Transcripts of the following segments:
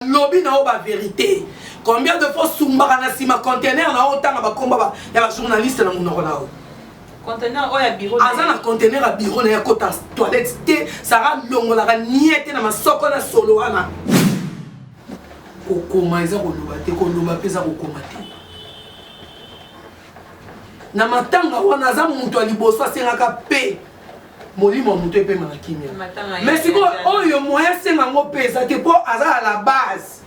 lobi na yo ba verite combien de fois sumbaka na sima conteneur na yo otanga bakomba ya ba journaliste na monoko na yo conteneur oyo ya bureau aza na conteneur ya bureau na ye akota toilette te sara longolaka nie te na masoko na solo wana kokoma eza koloba te koloba mpe eza kokoma te na matanga wana aza moto ya liboso asengaka mpe molimo ya moto epema na kimia mais sikoyo oyo moyen asenga yango mpe eza te mpo aza na la base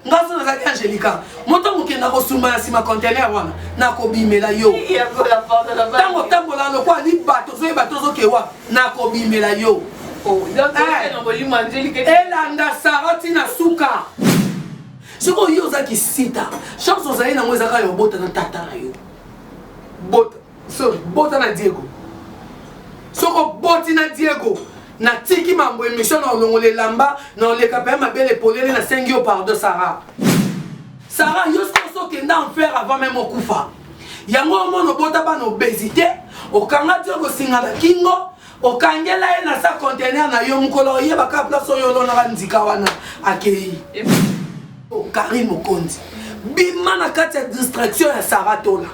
nga so nazalaki angelica moto mokenda kosumba na nsima contener wana nakobimela yo ntango otambola lokola libato ozoyeba tozokewa nakobimela yo oh, eh. elanda sara ntina suka sikoyo yo oza kisita chance ozali nango ezaka ya obota na tata na yo bota So bota na Diego. Soko boti na Diego. Natiki mambo emission na olongola elamba na oleka pe mabele polele na sengi yo pardon Sarah. Sarah yo soko kenda en faire avant même okufa. Yango omona obota bana obésité, okanga Diego singa na kingo. okangela ye na sa contener na yo mokolo oyeba kaka place oyo olonaka nzika wana akei karine mokonzi bima na kati ya distraction ya saratola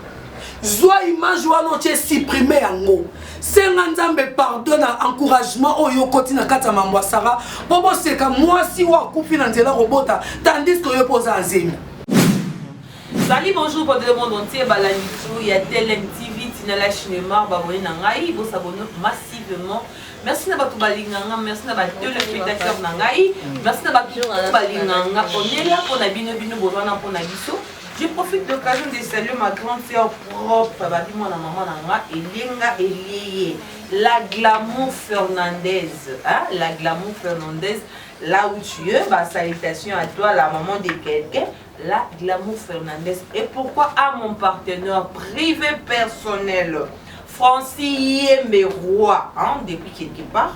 zwa image wana otye supprime yango senga nzambe pardon na encouragement oyo okoti na kati ya mambo ya sara mpo boseka mwasi oyo akufi na nzela kobota tandis ke oyo mpo oza azemi Salut bonjour peuple de monde entier ba landi tu ya telem TV tina la cinemar ba abonne na ngai bo s'abonne massivement merci na batu balinga nga merci na ba telespectateurs na ngai merci na batu balinga nga on est là pona bino bino boza na pona biso Je profite de l'occasion de saluer ma grande sœur propre, babi moi na maman nanga, Elenga Elieye, la glamour Fernandez, hein, la glamour Fernandez, là où tu es, bah, salutations à toi, la maman de quelqu'un, La glamour Fernandez et pourquoi a mon partenaire privé personnel Francis Yembe Roi hein, depuis quelque part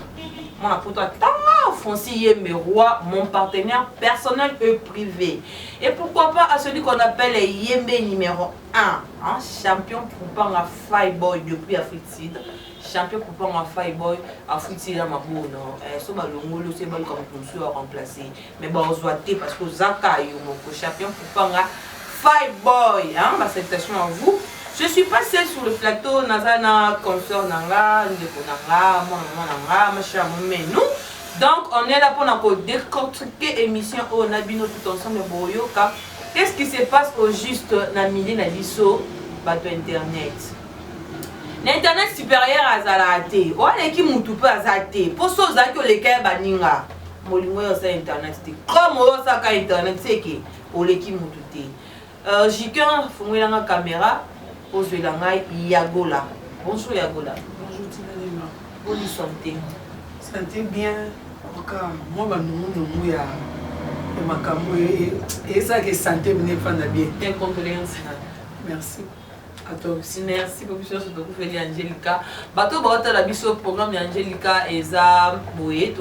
mwana poto atanga Francis Yembe Roi mon partenaire personnel et privé et pourquoi pas à celui qu'on appelle Yembe numéro 1 hein, champion Kupanga Fireboy depuis Afrique Sud champion kupanga fireboy afuti ye na mabono eh, so balongoli oso ebaluka moto mosusu ya remplace mais ba ozwa te parce que oza ka yo moko champion kupanga fai boy hein ba salutation à vous je suis pas seul sur le plateau naza na consort na nga ndeko na nga mwana mwana nga machia momenu donc on est là mpona ko décortiquer émission oyo na bino tout ensemble boyoka qu'est ce qui se passe au juste na milieu na biso bato internet na internet supérieur azalaka te oyo aleki mutu mpe aza te mpo so ozalaki oleka ya baninga molingo oyo osa internet te comme oyo osaka internet seke oleki mutu te uh, jikan funguelanga kamera ozwela ngai yagola bonjour yagola bonjour tinalima boni sante sante bien oka mwa banungunungu ya makambo ezalaka esante mine efanda bien merci atobsi merci po biso nyonso tokufeli angelica bato oyo baotala biso programme ya angelica eza boye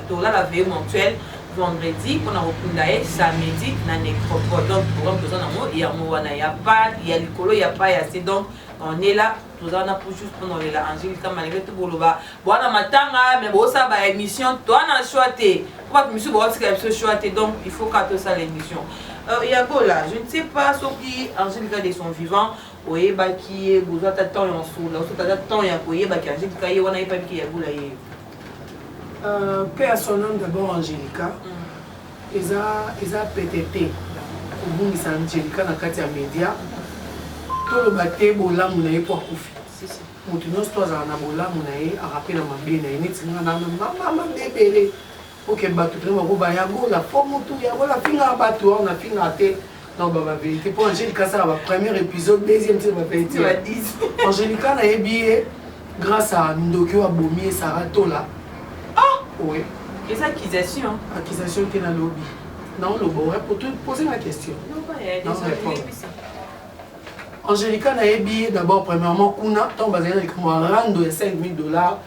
tolala veye mentuel vendredi mpona kokunda ye samedi na necropole donc programme toza nango yango wana ya pa ya likolo ya pa ya se donc on est là toza wana pour juste mpona olela angelica malgré tout boloba Bwana matanga mais bosala ba émission toi na choix te po bato misusu baotika biso choix te donc il faut ka tosala émission euh, yagola je ne sais pas soki angelica de son vivant oyebaki ye bozwa ata temps ya osula osota ata temps ya koyebaki angelica ye wana ayebaki ke yagola ye euh, pe ya son nom d'abord angelica mm. eza eza pete te kobungisa angelica na kati ya média toloba te bolamu na ye po akufi si, si. Mutu nionso to azala na bolamu na ye a rappeler na mabe na ye neti nga na na mama mabe ebele ok batu pena bako ba ya gola po mutu ya gola afingaka batu awa na fingaka te na ba ba verite po Angelica asala ba premier episode deuxième ti ba verite Angelica na ye biye grâce à ndoki oyo abomi ye Sarah Tola ah oui les accusations accusation te na lobi na oloba ouais pour te poser ma question non pas non répondre Angelica nayebi ye d'abord premièrement kuna tango bazali na likambo ya rando ya 5000 dollars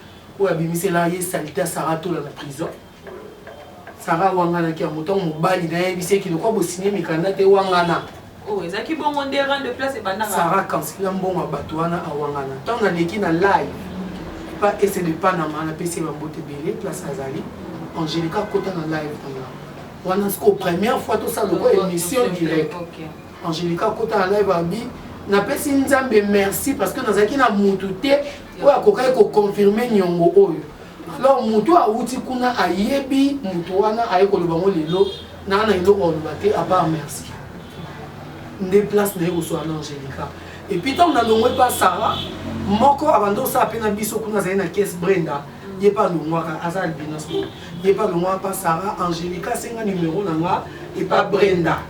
oyo abimisela ye salite ya Sarah Tola na prison Sarah awanganaki yango ntango mobali na ye ayebisi ye kilokwa bosinie mikanda te wangana oh, ezalaki bongo nde rang de place ebandaka sara kansila mbongo ya bato wana awangana ntango naleki na live pa ese de panama napesi ye bambote ebele place azali angelica akota na live na nga wana sikoyo première fois tosala lokola émission direct Angelica akota na live abi napesi nzambe merci parce que nazalaki na mutu te oyo akokaki koconfirme niongo oyo alors mutu awuti kuna ayebi mutu wana aye koloba ngo lelo naa na eloko aloba te apart merci nde place naye koswala na angelica epuis ntango nalongwe mpa sara moko abanda osala mpe na biso kuna azali na kese brenda ye pa longwaka aza albinos ye pa longwaka pa sara angelica asenga numero na nga epa brenda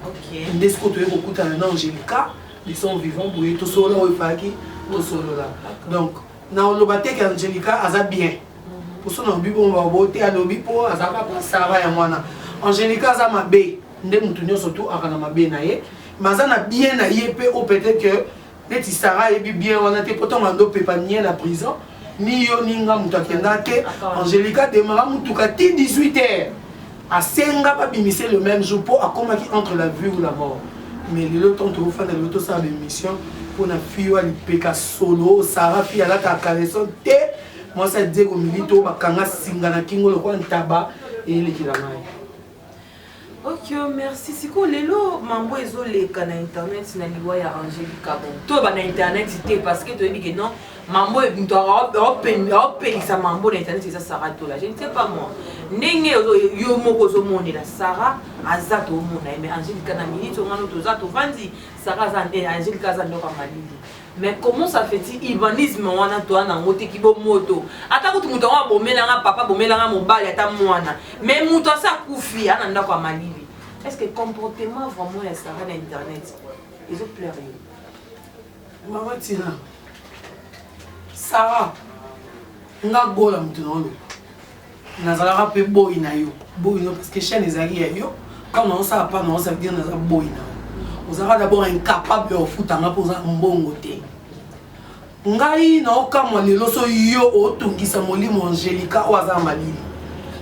nde sikoyo toye kokutana na angelica de son vivant boye tosolola oyo efalaki tosolola donc na oloba te ke angelica aza bien mhm. poso na lobi bongo babo te alobi mpo azalaka pa sara yango wana angelica aza mabe nde motu nyonso tu aka na mabe na ye mais aza na bien na ye mpe o peut-être que neti Sarah ayebi bien wana te po tonga ndo pepa nie na prison ni yo ni nga moto akenda te angelica demara motuka ti 18 heures asenga babimise le même jour mpo akomaki entre la vie ou la mort mais lelo ntango tokofanda lelo tosala baémission mpo na fille oyo alipeka solo sara fille alataka caleson te mwasi adie komilito bakanga singa na kingo lokola ntaba eyelekela ngai Okio oh, merci sikoyo lelo mambo ezoleka na internet na liwa ya angelica bon toyeba na internet te parce que toyebi ke non mambo moto aopelisa mambo na internet eza sara tola je ne sais pas moi ndenge yo moko ozomonela sara aza tomona ye mais angelica na minute ongano toza tovandi sara aza eh, angelica aza ndoko ya malili Mais comment ça fait-il urbanisme wana toa nango te kibomoto ata kutu moto yango abomela nga papa abomela nga mobali ata mwana mais moto asi akufi ana ndako ya malili est ce que comportement vraiment ya sara na internet ezo plaire yo mama tina sara nga gola moto na oloba Nazalaka pe boyi na yo. Boyi no parce que chaine ezalaki ya yo. Tango na osala pa na osa dire naza boyi na yo. Ozalaka d'abord incapable ya ofuta nga po oza mbongo te. Ngai na okamwa lelo so yo otungisa molimo Angelica oyo aza malili.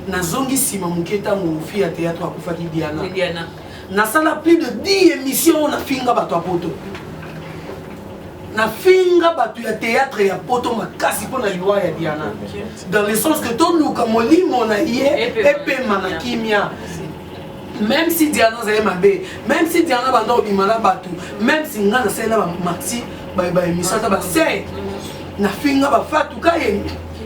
Nazongi sima moke tango fille ya theatre akufaki Diana. nasala plus de 10 émission oyo nafinga bato ya poto nafinga bato ya théâtre ya poto makasi mpo na liwa ya diana dans le sens que toluka molimo na ye epema na kimia même si diana azali mabe même si diana banda kobima na bato même si ngai nasali na bamati baémission ata basei nafinga bafatu kaye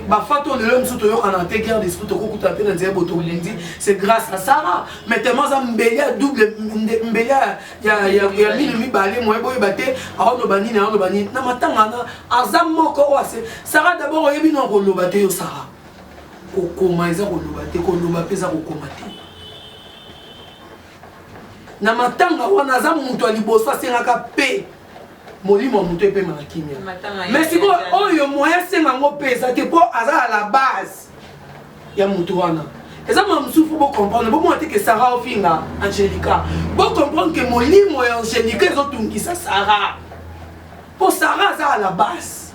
bafatu oyo lelo mosusu toyokana te guerre d'esprit tokokuta mpe na nzela boto olindi c'est grâce à sara mais tellement aza mbeli ya double mbeli ya mino mibale moye boyeba te aoloba nini aoloba nini na matanga na aza moko oyo ase sara dabord oyebi no akoloba te yo sara kokoma eza koloba te koloba mpe eza kokoma te na matanga wana aza moto ya liboso asengaka mpe molimo ya moto epema na kimia mais sikoyo oyo moyen asenga yango mpe eza te mpo aza ya la base ya mutu wana eza mwa mosusu mpo bocomprendre bomona te ke sara ofinga angelica bocomprendre ke molimo ya angelica ezotungisa sara mpo sara aza à la base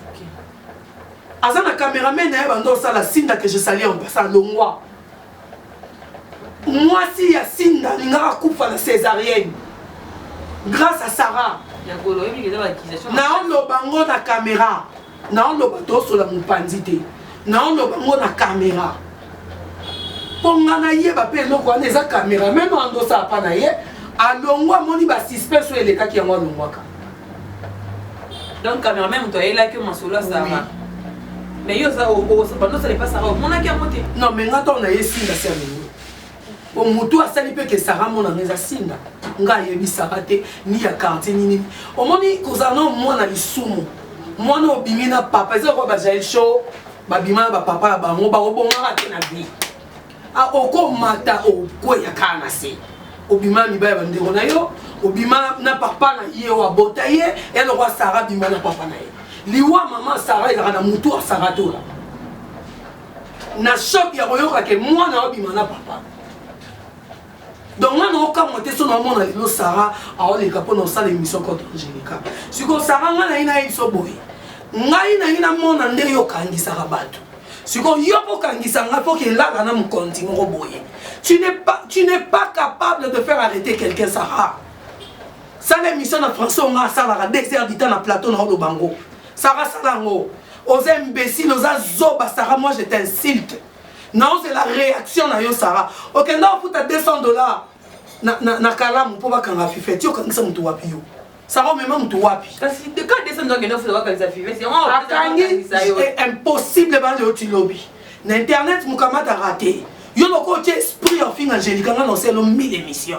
aza na cameraman na ye banda osala sinda ke je sali en pasa longwa mwasi ya sinda alingaka akufa na césarienne grâce à sara naoloba ngo na camera naoloba tosola mopanzi te naoloba ngo na kamera mpo nga nayeba mpe eloko wana eza kamera meme andosa apa na ye alongwa amoni basuspens oyo elekaki yango alongwaka donc kamera meme moto ayelaki yo masolo asara mais yo oza bandosala epasaka omonaki yango te non mais nga ntango naye esilasi ya lelo po motu asali mpe ke sara monanga eza sinda nga ayebi sara te ni ya quartier nini omoni kozala na mwana lisumu mwana obimi na papa eza lokola bajael show babima na bapapa ya bango bakobongaka te na vie ah, okomata okweya kaka na se obima na mibali ya bandeko na yo obima na papa na ye oyo abota ye ya lokola sara abima na papa na ye liwa mama sara ezalaka na motu ya sara tola na choc ya koyoka ke mwana obima na papa donc nga naokamwa te so naomona lelo sara aoleka mpo na osala émission contre angelica sikoyo sara nga nayi nayebi so boye ngai nayi namona nde yo okangisaka bato sikoyo yo mpo okangisa ngai mpo kelaka na mokonzi moko boye tu n'es pas, tu n'es pas capable de faire arrêter quelqu'un sara sala émission na français onga asalaka deux heures du temps na plateau na oloba ngo Sarah sala yango oza imbécile oza zoba Sarah moi je t'insulte naozela réaction na yo Sarah okenda ofuta 200 dollars na, na, na kalamu mpo bakanga fifeti okangisa moto wapi yo sara omema moto wapi akangi eh, impossible bana yo tilobi na internet mokamata rate yo loko otie esprit ya ofinga angelica nga na oselo 1000 émission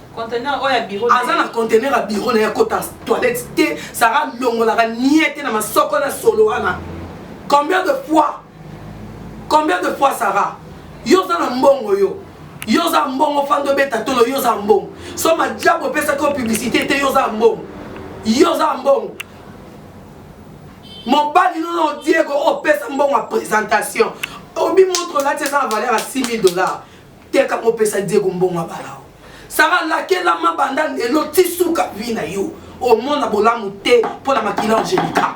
conteneur oyo ya bureau aza na conteneur ya bureau na ye akota toilette te sara longolaka nie te na masoko na solo wana combien de fois combien de fois sara yo oza na mbongo yo yo oza mbongo fanda obeta tolo yo oza mbongo so majabu opesaki yo publicité te yo oza mbongo yo oza mbongo mobali nono diego opesa mbongo ya présentation obi montre olati eza na valeur ya 6000 dollars Teka ngo pesa Diego mbongo abala yo. Sara lakelama banda lelo tisuka vie na yo. Omona bolamu te mpo na makila Angelica.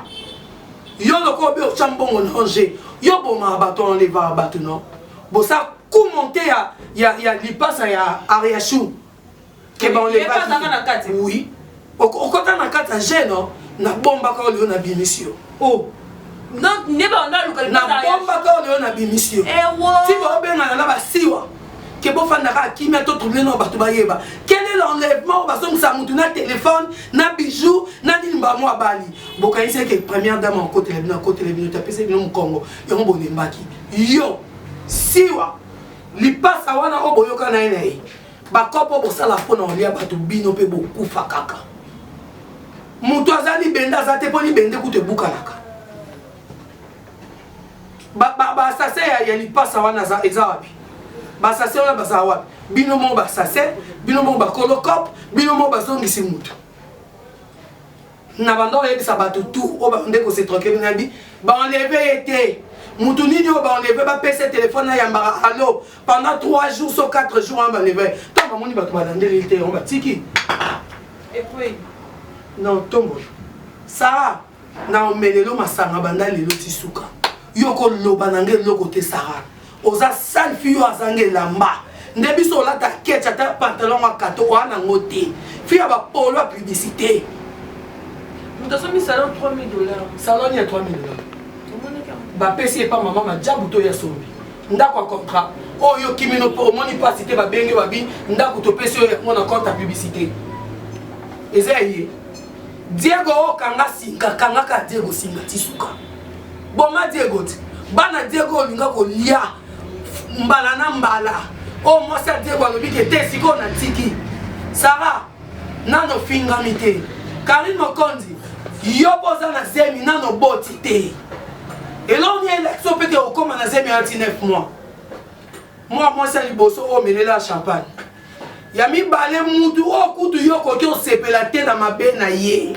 Yo lokola obe otya mbongo na Ange, yo bomaka bato wana olevaka bato no. Bosa kumonte ya, ya, ya lipasa ya Ariachou. keba on est pas na kati oui okota na kati ya jeune na bomba ka olio na bimisi yo oh donc nde ba onda luka na bomba ka olio na bimisi yo eh wo ti ba obengana na basiwa ke bofanda kaka kimia to trouble na bato bayeba quel est l'enlèvement oyo bazongisa motu na telefone na bijou na nini bango abali bokanisi eke première dame akotela bino akotela bino te apesi bino mokongo yango bolembaki yo siwa lipasa wana oyo boyoka na ye na ye bakopo bosala mpo na olia bato bino mpe bokufa kaka moto aza libende aza te mpo libende kutu ebukanaka basase ba, ba ya, ya lipasa wana eza wapi basase wana baza wapi bino moko basase bino moko bakolo cope bino moko bazongisi moto na banda oyebisa bato tout oyo babande kose tranquille nabi baenleve ye te mutu nini oyo baenleve bapesa telefone na yambaka allo pendant 3 jours so 4 jours wana baenleve ntango bamoni bato balandeli te yango batiki na otombola sara na omelelo masanga banda lelo ti suka yo koloba na ngai eloko te sara oza sale fille oyo azanga elamba nde biso olata ketch ata pantalon ya kato oa nango te fille ya bapolo ya publicité moto asombi salon 3000 dollars salon ya 3000 dollars bapesi epa mama majabu to ya sombi ndako ya contrat oyo oh, kimino mpo omoni mpasi te babenge babi ndako topesi oyo yango na compte ya publicité eza ye diego okanga oh, singa kangaka diego singa tisuka boma diego ti bana diego olinga kolia mbala na mbala oyo oh, mwasi ya diego alobi ke te sikoyo natiki sara nano ofingami te karine mokonzi yo mpo oza na zemi nano oboti te elongi elekso mpe te okoma na zemi ya ti 9 mois mwa mwasi ya liboso oyo omelela ya champagne ya mibale mutu oyo kutu yo okoki osepela te na mabe na ye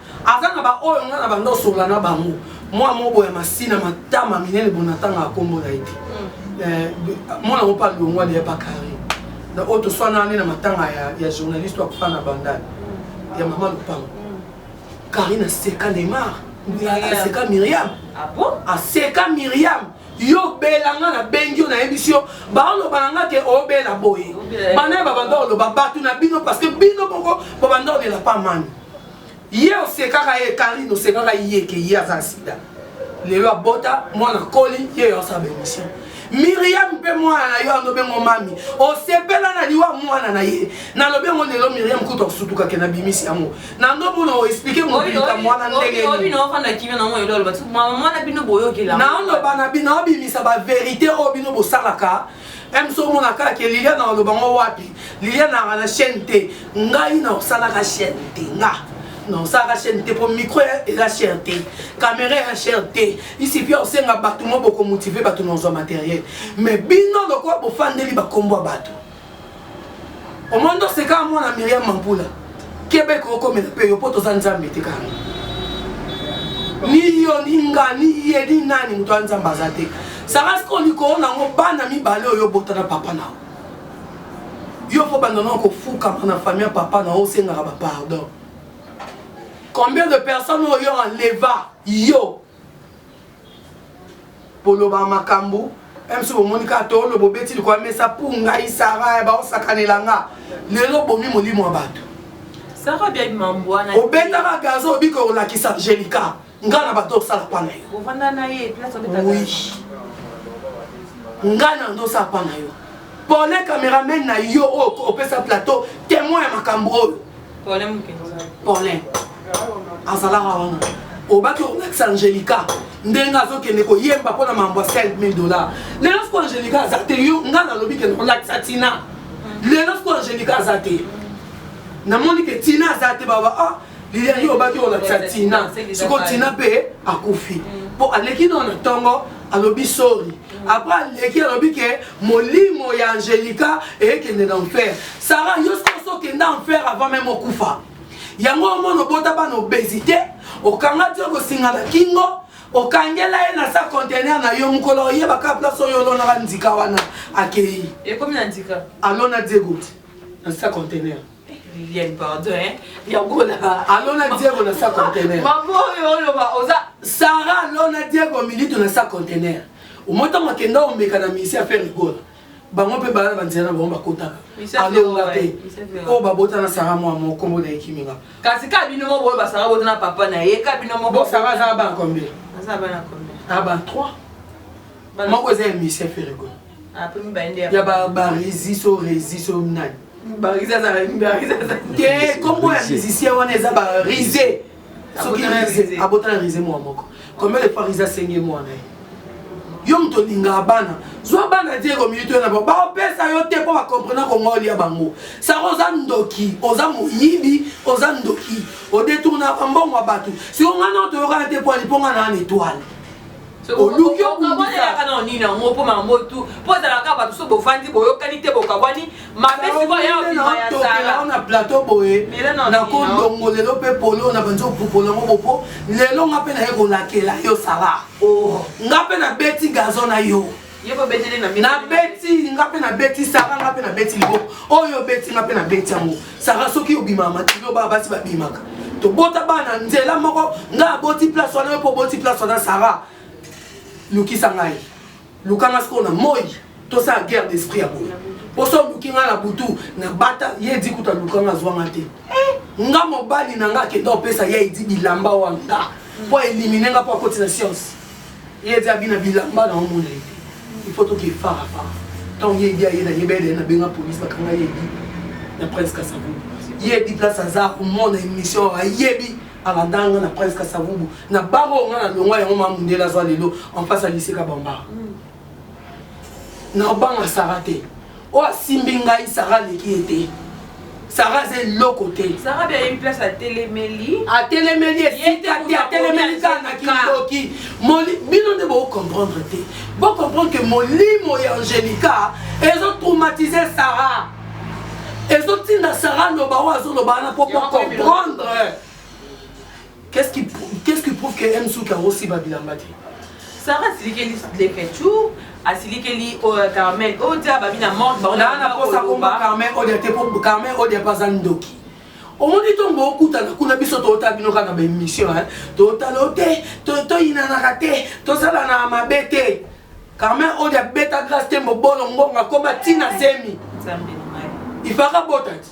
Aza na ba oyo nga na banda osonga na bango mwa mobo ya masina matama minene bonatanga akombo na ete hmm. eh, mwana ngo pa longwa deya pa carré na oyo toswana nde na matanga ya, ya journaliste oyo akufa na bandal hmm. ya mama lupango carré hmm. naseka neymar aseka miriam ah aseka miriam yo bela nga nabengi yo nayebisi yo baoloba na nga te obela boye bana ya babanda oloba bato na bino parce que bino moko babanda olela pa mani ye osekaka ye karine osekaka ye ke ye aza sida lelo abota mwana koli ye osala bemission miriam mpe mwana na yo alobi ngo mami osepela na liwa mwana na ye nalobi yango lelo miriam kutu akosutukake na bimisi yango na ndomona oexplike mobilika mwana ndengenaoloba na bino obimisa baverité oyo bino bosalaka Même so mona kaka ke Liliana aloba ngo wapi Liliana anga na chaîne te ngai na osalaka chaîne te nga na osalaka chaîne te po micro eza cher te caméra eza cher te isi pia osenga bato mo bokomotive bato na ozwa matériel mais bino lokola bofandeli bakombo ya bato omoni ndo sekaka mwana miriam mampula keba ekokomela mpe yo mpo toza nzambe te kaka ni yo ni nga ni ye ni nani moto ya nzambe aza te sarasika olikoo nango bana mibale oyo obota na papa na yo mpo banda nao kofukama na famille ya papa na yo osengaka bapardon combien de personnes oyo enleva yo boloba makambu mc bomoni kaka toloba obeti likwa mesa pour ngai sara baosakanela nga lelo bomi molimo ya bato obetaka gazo obika olakisa angelica ngai na bato osala pa na yo oui ngai na ndo osala pa na yo pole cameraman na yo oyo opesa plateau temoin ya makambo oyo paulin azalaka wana obaki olakisa angelica ndenge azokende koyemba mpo na mambo ya 5000 dollar lelo siko angelica aza te yo nga nalobi kende kolakisa tina lelo siko angelica aza te namoni ke tina aza te baba ah lilia yo obaki olakisa tina siko tina mpe akufi mpo aleki nao na ntongo alobi sori après aleki alobi ke molimo ya angelica ekende na enfer sara yo soki okenda enfer avant meme okufa yango omona obota bana obesité okanga ti okosinga na kingo okangela ye na sa contener na yo mokolo oyebaka place oyo olonaka ndika wana akei ekomi na ndika alona diego na sa contener Liliane pardon hein ya gola alona Diego na sa conteneur maman oyo oloba oza Sarah alona Diego militu na sa conteneur omota makenda omeka na misi ya faire gola bango mpe bana banzela na bango bakotaka alonga mpe oyo babota na sara mwa mo nkombo na ekimi nga kasi ka bino moko boyo basara bota na papa na ye ka bino moko sara azala bana combien azala bana combien a ba 3 moko eza ya misie ferego ya barezi so rezi so nani te kombo ya musicien wana eza barise soki rise abota na rise mwa moko combien de fois rise asengi mwana ye yo moto olingaka bana zwa bana te komilito na bango baopesa yo te mpo bakomprena kongo olia bango saka oza ndoki oza moyibi oza ndoki odetournaka mbongo ya bato siko ngai nao toyokana te mpo aliponga na ana etoile oluki okabwanelaka na nini yango mpo mambo tu mpo ezalaka bato so bofandi boyokani te bokabwani mabe sikoyo ya obima ya sala na plateau boye nakondongo lelo mpe polo na banzi opopola yango bopo lelo nga mpe naye kolakela yo sala oh. nga mpe nabeti gazo na yo nabeti nga mpe nabeti sara nga mpe nabeti libo oyo obeti nga mpe nabeti yango sara soki obimaka makilo baa basi babimaka tobota bana nzela moko nga aboti place wana yo mpe oboti place wana sara lukisa ngai luka nga sikoyo na moi tosala guerre d'esprit ya boye poso oluki nga na butu na bata ye edi kuta luka nga azwa nga te nga mobali na nga akenda opesa ye edi bilamba wanga mpo elimine nga mpo akoti na science ye ti abina bilamba na omona ye te il faut toke fara fara ntango ye edi aye na ye bele nabenga polise bakanga ye edi na prince kasavubu ye edi place aza komona émission ayebi alanda nga na prince kasavubu na baro nga na longwa yango mamundela azwa lelo en face ya liseka bambara mm. nakobanga sara te oyo asimbi ngai sara aleki ye te sara aza eloko te atelemeli esika te atelemeli kaka na kindoki bino nde bocomprendre te bocomprendre ke molimo ya angelica ezotraumatise sara ezotinda sara loba oyo azoloba wana mpo bocomprendre Qu'est-ce qui, qu'est-ce qui prouve que Msuki akosiba bilamba te? Sarah asilikeli lekechou asilikeli euh, carmen odia babi na monde bango na na posa komba carmen odia te po carmen odia paza ndoki omoni ntongo bokutana kuna biso tootala bino kaka baémission totala o te toyinanaka te tosalanaka mabe te carmen odia beta grace te mobolo ngonga koma ntina zemi ifaka botati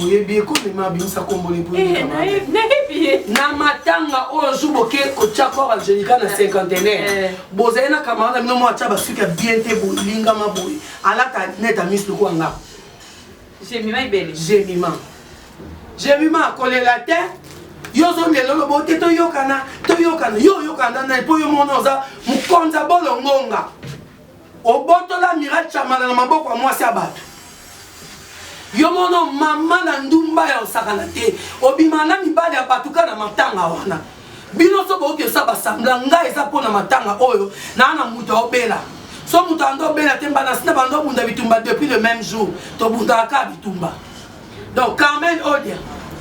oyebi ye komema abimisa kombo ne po Eh, naye- nayebi ye na matanga oyo jour boke kotya kor angelica na cinquantenaire Eh. bozali na camarade na bino moko atya basuki ya bien te bolingama boye alata net amis lokola nga jemima ebele gemima gemima akolela te yo ozongela oloba ote toyokana toyokana yo oyokana na nani mpo yo mona oza mokonza bolongonga Obotola Amiral Tshamala na maboko ya mwasi ya bato. Yo mono mama na ndumba ya osakana te. Obima na mibali ya bato kaka na matanga wana. Bino so boyoki osa basambla nga eza mpo na matanga oyo naa na moto aobela. So moto ando obela te mbana sina bando obunda bitumba depuis le même jour. Tobundaka kaka bitumba. donc carmen odia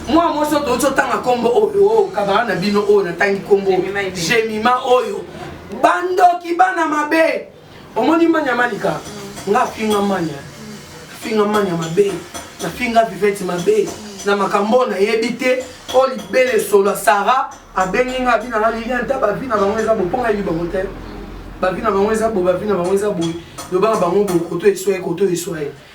mwa mwasi oyo touti otanga nkombo oyo oh, kabala na bino oyo natangi nkombo jemima oyo bandoki bana mabe omoni manya malika nga finga manya finga manya mabe na finga vivete mabe na makambo oyo nayebi te oyo libele solo ya sara abengi nga bina na lilian ta bavi na bango eza boponga yebi bango te bavi na bango eza bo bavi na bango eza boye lobaka bango bokoto eswaye koto eswaye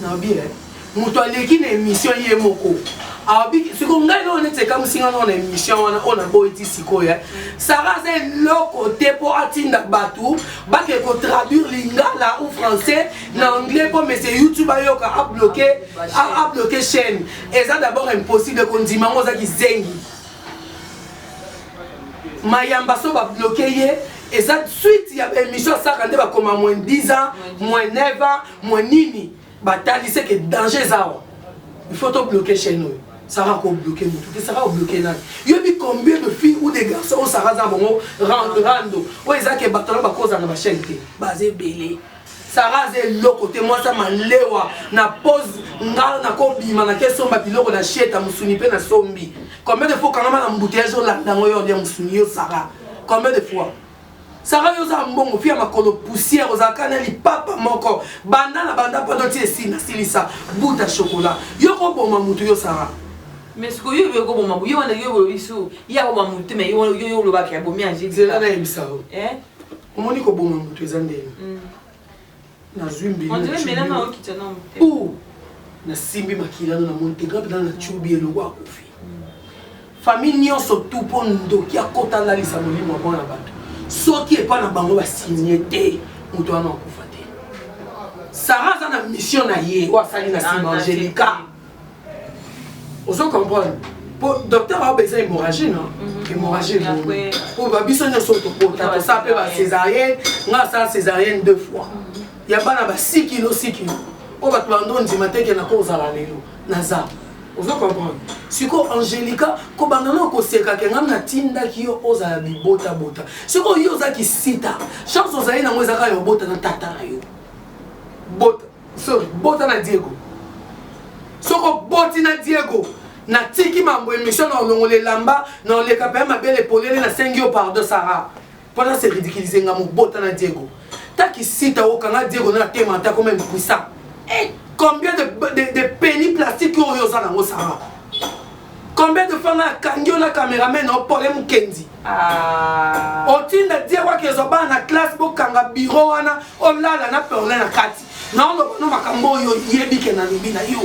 naobi eh, moto aleki na émission ye moko aobi siko ngai nao neti ekamwisi ngai nao na émission wana oyo naboyi ti sikoyo eh. sara aza eloko te mpo atinda bato bake kotraduire lingala ou français na anglais mpo mese youtube ayoka abloke abloke chaîne eza d'abord impossible kondima yango oza kizengi mayamba so babloke ye eza suite ya baémission asaka nde bakoma moins 10 ans moins 9 ans mwa nini batali seke danger eza awa il faut to bloquer chaîne oyo sara ko bloquer motu te sara obloquer nani yobi combien de filles ou des garçons oyo sara aza bango rando oyo eza ke bato na bakozala na bachaîne te baza ebele sara aza eloko te mwasi ya malewa na pose nga nakobima nakesomba biloko na sheta mosuni mpe na sombi combien de fois okangama na mbuteyage olanda yango yo olia mosuni yo sara combien de fois Sarah yo oza mbongo fille ya makolo poussière ozalaka na lipapa moko banda na banda poto ti esina silisa buta chocolat yo ko boma mutu yo Sarah mais siko yo yo ko boma yo wana yo yo isu ya ko boma mutu mais yo yo yo lobaka ya bomi angeli zela na ebisa eh omoni ko boma mutu eza ndenge mm. nazwi mbeli On dirait Mela na okitya na motema. Ouh! nasimbi makila no na moni te nga mpenza na cubi elongo akufi famille nyonso tu mpo ndoki akota alalisa molimo ya bana bato soki epai na bango basigne te moto wana akufa te sara aza na mission na ye oyo asali na nsima angelica ozo comprendre po docteur aobe eza hémorragie na mhm. hémorragie po ba biso nyonso tokota tosala mpe ba césarienne nga asala césarienne deux fois mhm. ya bana ba 6 kilo 6 kilo oyo bato bando ondima teke na kozala lelo naza ozo comprendre sikoyo angelica kobanda na okoseka ke ngai natindaki yo ozala bibotabota sikoyo yo oza kisita chance ozali nango ezaka ya obota na tata na yo bota So bota na Diego. Soko boti na Diego. Na tiki mambo emission na olongola elamba na oleka pe mabele polele na sengi yo pardon Sarah. Pona se ridiculiser nga mobota na Diego. Ta kisita okanga Diego na tema ata comme impuissant. Eh combien de de, de penny plastique oyo oza nango Sarah. Combien de fois na kangi yo na cameraman na opole mukendi. Ah. otinda diego akezwa bana na classe bokanga biro wana olala na perle na kati naoloba no makambo oyo oyebi ke nalobi na yo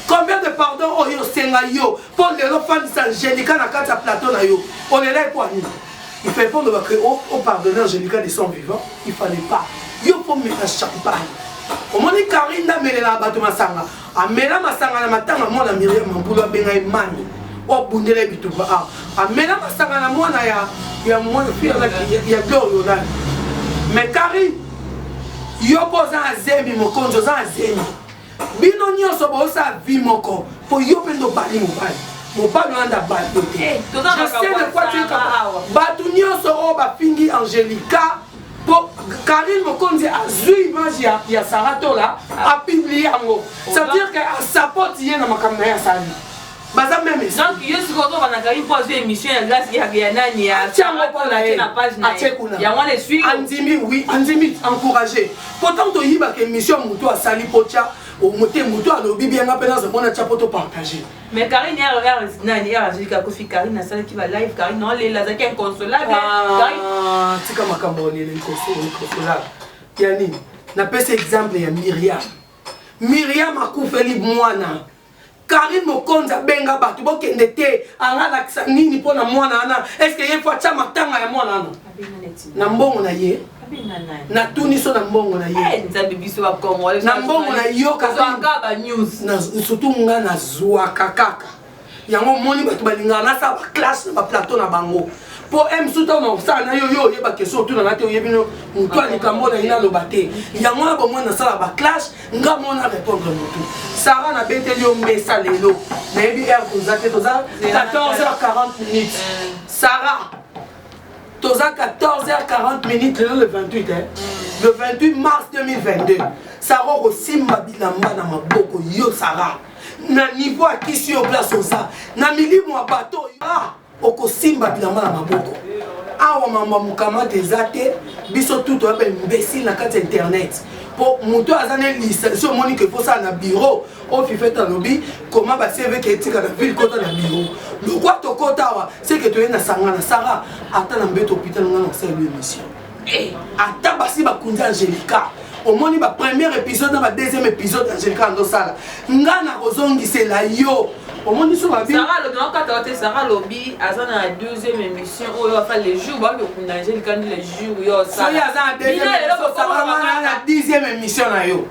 combien de pardon oyo osenga yo mpo lelo ofandisa angelica na kati ya plateau na yo olela ekwani il fallait pas oloba ke opardonne angelica de son vivant il fallait pas yo mpo mela champagne omoni karine ndamelela bato masanga amela masanga na matanga mwana miriam mambulu abenga ye mani obundela ye bitumba a ah, amela masanga na mwana ya ya mwana ya glorional mais kari yoko oza na zemi mokonzi oza na zemi bino nyonso boosala vi moko mpo yo mpe ndo bali mobali mobali wana nda bato te eh, bato nyonso oyo bafingi angelica po Karine Mokonzi azwi image ya, ya Sarah Tola apublie yango ça veut dire que asapote ye na makambo na ye asali baza meme donc yo sikoyo ozoba na kaki mpo azwi émission ya glace ya ya nani ya atyango mpo na ye na page na atye kuna yango wana eswi andimi oui andimi encourage mpo ntango toyibaka émission motu asali mpo tya omote motu alobi bien nga mpe naza mpo natya mpo topartage mais Karine ya ya nani ya azui ka kofi Karine asala ki ba live Karine non lela azaki inconsolable ah, Karine tika makambo lela inconsolable ya nini na pesi exemple ya Myriam Myriam akufeli mwana Karine Mokonzi abenga bato bokende te angalakisa nini mpo na mwana wana est-ce que ye faut atya matanga ya mwana wana na mbongo na ye natuni so na mbongo na ye eh, nzambe biso bakongole na mbongo na yokaka banews surtout nga nazwaka kaka yango omoni bato balingaka nasala baklasse na baplateau na bango mpo msu ntango nakosala na yo yo oyeba kestion otuna na te oyebi no motu ya likambo na ye naloba te yango na bomoi nasala baklasse nga mo na répondre motu sara nabeteli yo mesa lelo nayebi heure toza te toza 14 h 40 minutes eh. sara toza 14h40 minutes lelo le 28 eh? le 28 mars 2022 sara okosimba bilamba na maboko yo sara na niveau akisi yo place oza na milimu ya bato oyo ah, okosimba bilamba na maboko awa mambo ya mokamata eza te biso tu toya baimbesile na kati ya internet mpo moto aza na lisansi omoni ke kosala na biro oyo fifete alobi koma bacv ke etika na ville kota na biro lokwa tokota awa seke toye na sangana sara ata na mbeto hôpital nga na kosala yo émission eh, ata basi bakundi angelica omoni ba première épisode na ba deuxième épisode angelica andosala nga na kozongisela yo omoni so babi sara alobi nakokataka te sara alobi aza na deuxième émission oyo afa le jour baoki okunda angelica ndi le jour yo osala soki aza na deuxième émission sara wana na dixième émission na yo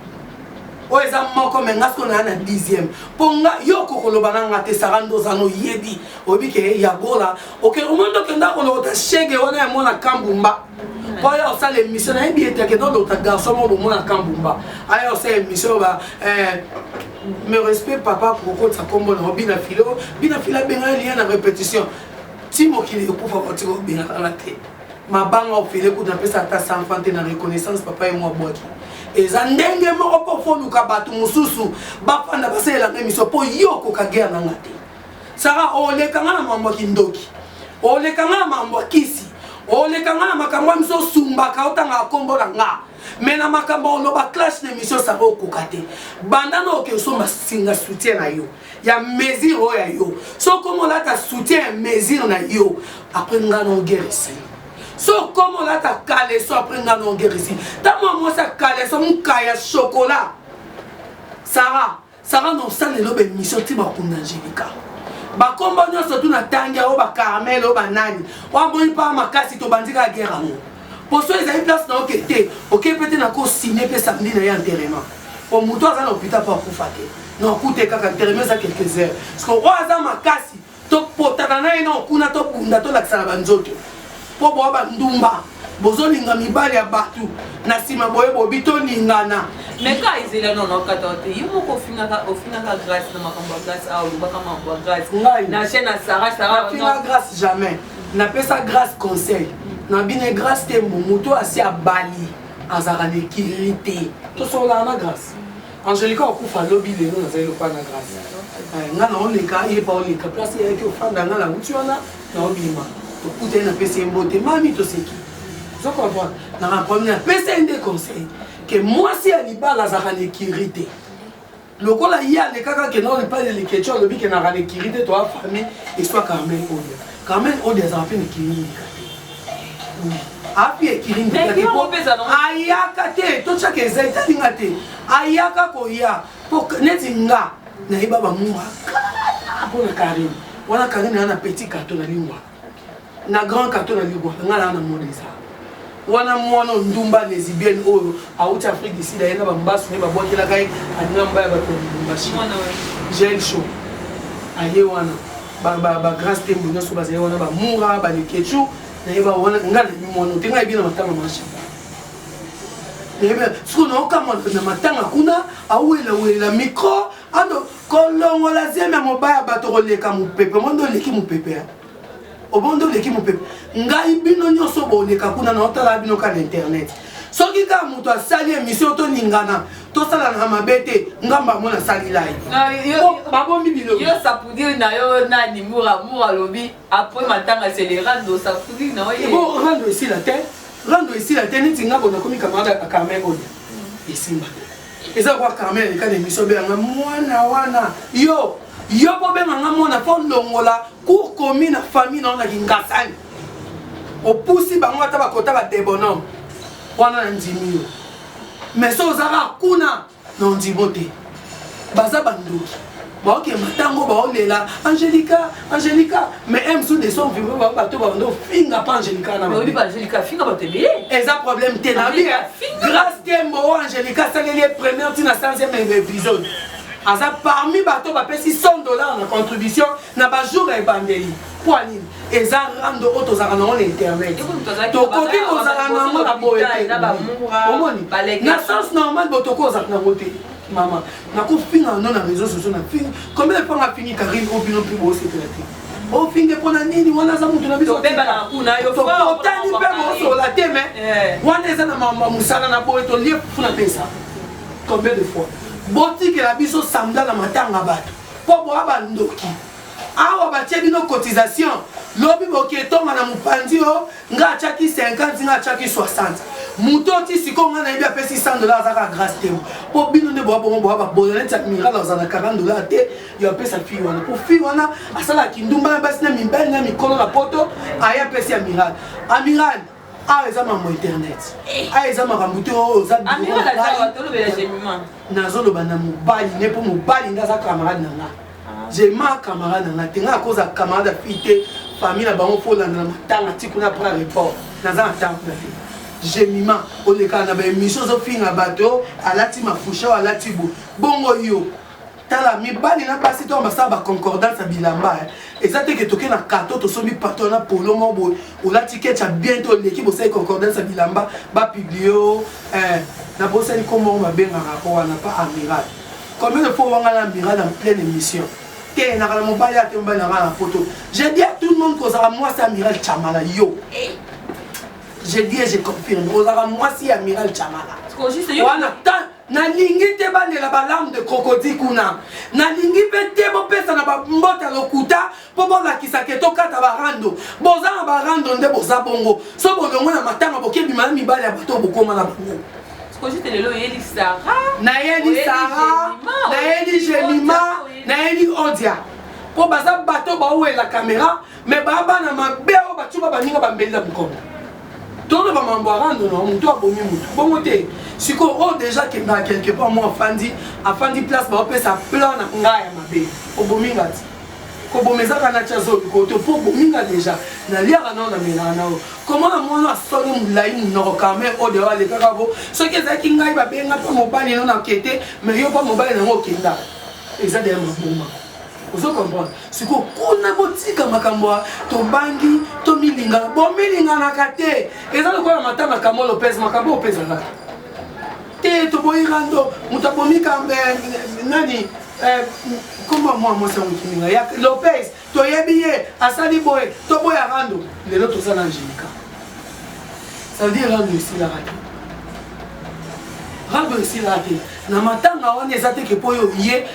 oyo eza moko me nga siko naa na dixième mpo nga yo kokoloba na nga te sara ndoza no yebi oyebi ke ya gola oke omoni tokenda kolokota shege wana ya mwana kambumba mpo aya osala émission nayebi ete akenda olokota garçon moko bomwana kambumba aya osala émission ba eh, me respect papa kokotisa nkombo nango bina filo bina filo abengana liya na répétition ti mokili ekufa batika obengana te mabanga ofele kutu napesa ata 100 francs te na reconnaissance papa ye mwa bwaki eza ndenge moko mpo foluka bato mosusu bafanda basalela ngai miso mpo ye okoka guerre na nga te sara oleka nga na mambo ya kindoki oleka nga na mambo ya kisi oleka nga na makambo ya miso osumbaka otangaka nkombo na nga me na makambo oloba clash na émission sara okoka te banda na oke osomba singa soutien na yo ya mesure oyo ya yo so okomi olata soutien ya mesure na yo apres ngai na ogerisi so okomi olata kaleso apres ngai na ogerisi ntango ya mwasi ya kaleso moka ya shokola sara sara na osala eloba emission ti bakunda angelika bakombo nyonso tu natangi yango bacarmel oyo banani oyo amoni mpaa makasi tobandi kaka gere yango poso ezali place na oke te oke pe te na ko signe pe samedi na ye enterrement po moto aza na hôpital po akufa te na okute kaka enterrement eza quelques heures siko oyo aza makasi topotana na ye na okuna tobunda tolakisana banzoto po boa bandumba bozolinga mibali ya bato na nsima boye bobi tolingana meka ezela nono kata te ye moko ofingaka ofingaka grace na makambo ya grace awa olobaka makambo ya grace na chaîne ya sara sara grace jamais napesa grace conseil na bine grace tembo moto asi abali azalaka na ekilili te tosololaka na grace angelica okufa lobi lelo nazali lokola na grace eh, nga naoleka yeba oleka place eyaki ofanda nga nauti wana naobima tokutani napesi ye mbote mami toseki ozo comprendre naka problème napesi ye nde conseil ke mwasi ya libala azalaka na ekiri te lokola ye alekaka ke nao epai ya leketio alobi ke naka lekiri te toa famille eswa carmel odia carmel odia azala mpe lekiri yika te api ekiri ayaka te totyaka eza etalinga te ayaka koya po neti nga nayeba bamuma kala mpo na karine wana karine aa na petit carton na lingwa na grand carton na libwa nga na na mode eza wana mwana ndumba lesbienne oyo awuti afrique du sud aye na bambasu nde babwakelaka ye alinga mbaya bato ya lubumbashi gel show aye wana bagrand stembo nyonso bazali wana bamura balekechu nayeba wana nga nayebi mwana te nga yebi na matanga masha sikoyo naokamwa na matanga kuna awelawela micro Ando kolongola zemi ya mobaya bato koleka mopepe omonde oleki mopepe ya omonde oleki mopepe ngai bino nyonso boleka kuna na otalaka bino ka na internet soki kaka moto asali emission tolingana tosalana mabe te ngambo yango nasali live babomi biloyo sapudiri na yo nani mura mura alobi apres matanga selerando sapudiri na yo rando esila te rando esila te neti nga bonakomi kamarade ya carmen oyo esimba eza kwa carmel aleka na emission beyanga mwana wana yo yo mpo obenga nga mwana mpo olongola cour komi na famille nao na kingasani opusi bango ata bakota badebonome wana na ndimi yo mais so ozaka kuna na ondimo te baza bandoki baokema ntango baolela angelica angelica mais un mosusu de son vivre bao bato bando ofinga mpa angelica na bayebi baangelica afinga bato ebele eza problème te na bia grâce tembo oyo angelica asaleli ye première ntina 100 épisode aza parmi bato bapesi 100 dollars na contribution na bajour ya ebandeli mpo nini eza rando oyo tozalaka nango na internet tokoki kozala nango na boye te omoni na sens normal botoki ozalaka nango te mama nakofinga no na réseau sociaux na fingi combien de fois nga fingi Karine au bino mpe bosepela te ofinge mpo na nini wana aza moto na biso tokotani mpe bosola te me eh. wana eza na mama mosala na boye tolie fufu na pesa combien de fois botikela biso samda na matanga bato mpo boya bandoki awa batie bino cotisation lobi boketonga na mopanzi o nga atiaki 50 nga atiaki 60 moto oti sikoyo nga nayebi apesi 100 dollars azaka grace te mpo bino nde boya bongo boya babola neti amiral aza na 40 dollars te yo apesa fille wana mpo fille wana asalaka kindumba na basi na mibali na mikolo na poto aye apesi amiral amiral awa ah, eza mambo internet awa ah, eza makambo te oyo ozanazoloba na mobali ne mpo mobali nde aza camarade na nga ah. jema camarade na nga te nga akoza camarade ya fille te famille na bango fo olanda na matanga ti kuna apres report naza na ntango kuna te jemima olekaka na baémission ozofinga bato alati mafusha o alati bo bongo yo tala mibali na basi to basala ba concordance ya bilamba eh. eza te ke toke na carton tosombi patron na polo moko boye olati kecha bien to oleki bosali concordance ya bilamba bapublie o eh. na bosani nkombo yango babengaka ko wana pa amiral combien de fois wanga na amiral en pleine émission te naka na mobali ate mobali na ngai na poto je dis à tout le monde kozala mwasi amiral chamala yo eh. je dis et je confirme ozalaka mwasi ya amiral chamala wana nalingi te bandela balame de crocodile kuna nalingi mpe te bopesa na bambote ya lokuta mpo bolakisa ke tokata barando boza na barando nde boza bongo so bolongo na matanga bokebima na mibali ya bato bokoma na bango nayeli sara nayeli jelima nayeli odia mpo baza bato bawela kamera me babana mabe oyo batyuba baninga bambeli na bukongo tono bamambo arando na motu abomi motu bongo te sikoyo oyo oh, deja kendaka quelque part mo afandi afandi place baopesa plan na ngai ya mabe obomi nga ti koboma ezaka na tya zolo koto mpo obomi nga deja naliaka nao na melaka nao koma na mono asoni molai monoko kame oyo dewa alekaka bo soki ezalaki ngai babenga mpo mobali no na kete me yo mpo mobali nango okenda eza deya maboma ozo comprendre siko kuna botika makambo ya tobangi tomilingana bomilinganaka te eza lokola mata na kamo lopez makambo oyo mpezaka te toboyi rando moto abomi kambe eh, nani eh, komba mwa mwasi ya mokiminga ya lopez toyebi ye asali boye toboya rando lelo toza na angelica ça veut dire rando esilaka te rando esilaka te na matanga wana eza teke mpo yo ye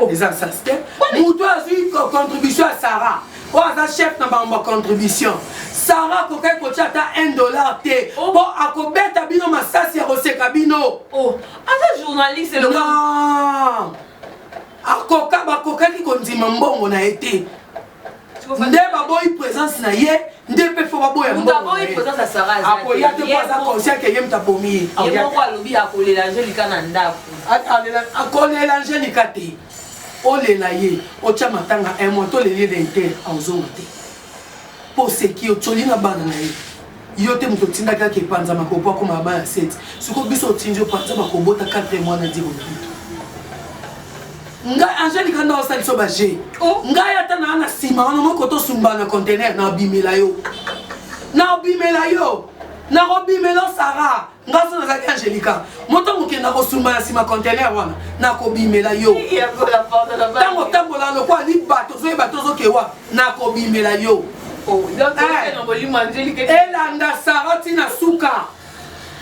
Oh. eza nsasi te moto oyo azwi contribution ya sarah oyo aza chef na bango bacontribution sarah akokaki kotya ata 1 dollar te oh. mpo akobeta bino masasi ya koseka bino oh. aza journaliste akoka bakokaki kondima mbongo na ye te nde baboyi présence na ye nde mpe fo baboya akoya te po aza conscient ke ye moto abomi ye akolela angelika na ndako akolela angelika te olela ye otya matanga un mois toleli ye na inter aozonga te mpo oseki otyoli na bana na ye Yo te mutu otindaki ake panza makolo po akoma na bana 7 sikoyo biso otindi yo panza makolo bota 4 mwana ndi bokutu ngai angeli kanda osali so baje oh. ngai ata naa na nsima wana moko tosumbana na contener na bimela yo na bimela yo nakobimela sara nga so nazalaki angelica moto mokenda kosumba na nsima contener wana nakobimela yo ntango otambola lokola liba tozoyeba tozokewa nakobimela yo oh, eh. elanda sara ntina suka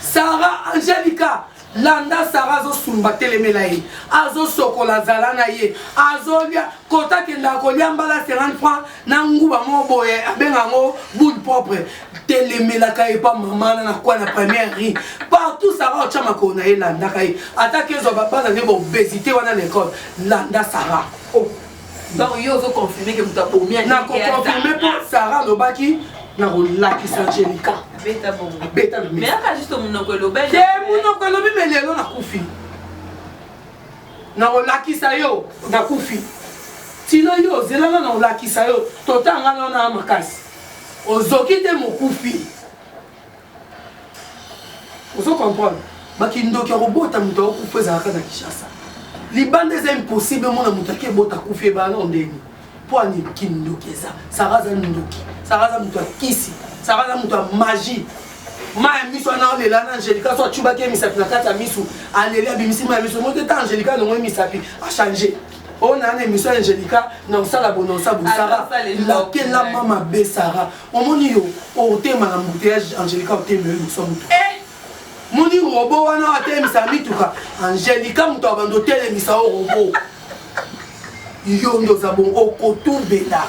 sara angelica landa sara azosumba telemela ye azosokola zala na ye azolia kota kendaka kolia mbala 50 franc na nguba moko boye abenga yango boule propre telemelaka ye pa mama na nakwa na première ri partout sara otya makolo na ye landaka ye ataki ezwa babana nde baobesité wana na ekole landa sara oh. donc yo ozoconfirme ke moto abomi nakoconfirme mpo sara alobaki nakolakisa angelika abeta na te monoko elobi me lelo nakufi nakolakisa yo nakufi tino yo ozelana na olakisa yo totanga na wana makasi ozoki te mokufi ozo comprendre bakindoki ya kobota moto akokufa ezalaka na kinshasa libanda eza impossible mona moto ake ebota kufi ebala na ndenge mpo ani kindoki eza sara aza ndoki sara aza moto ya kisi sara aza moto ya magie mai ya miso wana olela na angelika so acubaki ye misapi na kati ya miso aleli abimisi mai ya miso moto ete angelika alongo ye misapi achange oyo na na émission ya angelika na osala bononsa bosara lakelama mabe sara omoni yo otema na mbuteyage angelika otemela liboso ya moto eh! moni robo wana oyo atelemisa mituka angelica moto ya bando otelemisa o robo yo nde oza bongo okotubela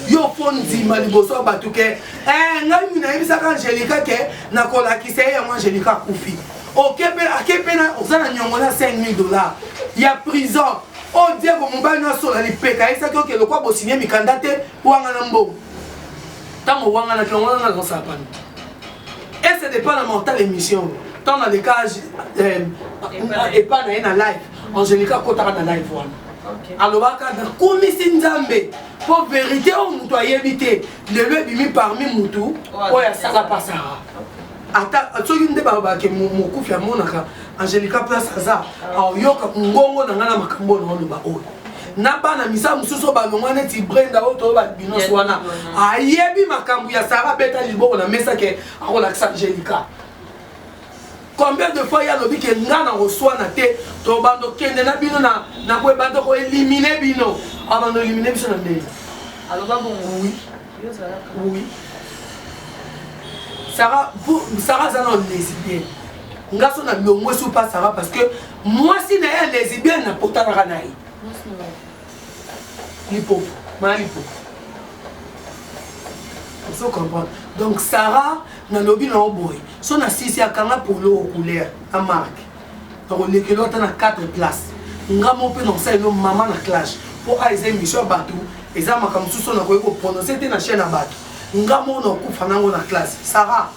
yo mpo ndima liboso ya bato ke eh, ngai mini nayebisaka angelica ke nakolakisa ye yango angelica akufi ake mpe oza na nyongo na 5000 dollars ya prison oyo diego mobali nasola lipeka ayebisaki oke lokwa bosinie mikanda te wanga na mbongo ntango wanga na tongo wana nazosala pano Et c'est pas la mentale émission. Tant dans les cas, euh, et pas dans la live. Angélique a kotaka dans la live. alobaka nakumisi nzambe mpo verité oyo moto ayebi te lelo ebimi parmi motu oyo asala pasaka ata soki nde balobake mokufi amonaka Angelica place aza aoyoka ngongo na ngai na makambo oyo naoloba oyo na bana misala mosusu oyo balongwa neti brenda oyo toyo balbinos wana ayebi makambo ya sara beta liboko na mesa ke akolakisa angelica combien de fois ye alobi ke nga na koswana te tobanda okende na bino na nakoebanda koelimine bino abanda oelimine biso na ndenge aloba bongo oui Sarah, vous, Sarah aza na lesbienne. Nga so na longwe sous pas Sarah parce que mwasi na ye lesbienne na potanaka na ye. Lipopo, ma lipopo. Vous comprenez? Donc Sarah nalobi na oboye so na sisi akanga polo couleur na marque nakolekelo ata na 4 place nga mo mpe nakosalelo mama na clash mpo a eza emission ya bato eza makambo mosusu oyo nakoki koprononce te na chaine ya bato nga mo nakokufa nango na classe sara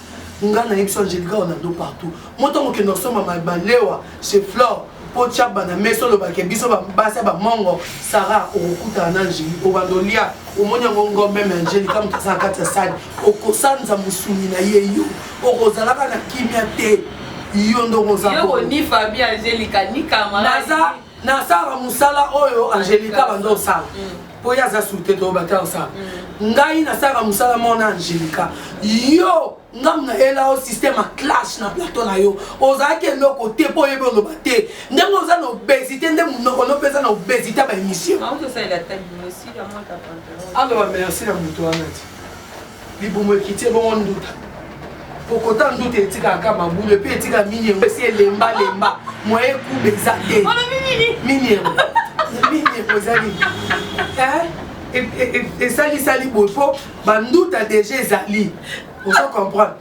nga nayebi so angelica ronaldo partout mo ntango okende kosomba malewa chez flore mpo tya bana mesi olobake biso basi ya bamongo sara okokutana na angeli obanda olia omoni yango ngombe me angeli kamoto aza na kati ya sani okosanza mosuni na ye yo okozalaka na kimia te yo nde okozanaza nasala mosala oyo angelika banda osala mpo mm. ye aza surte to bata osala mm. ngai nasalaka mosala moko na angelika yo ngambo na yela yo système ya clash na plateau na yo ozalaki eloko te mpo oyebi oloba te ndenge oza na obésité nde monoko no mpeza na obésité ya baémission aloba merci na moto wana ti libumu ekiti ebongo nduta kokota nduta etikaka ka mabulu epe etika mini yango esi elemba lemba moye ekuba eza te mini yango mini yango eza nini esalisali boye mpo banduta deja ezali ozo comprendre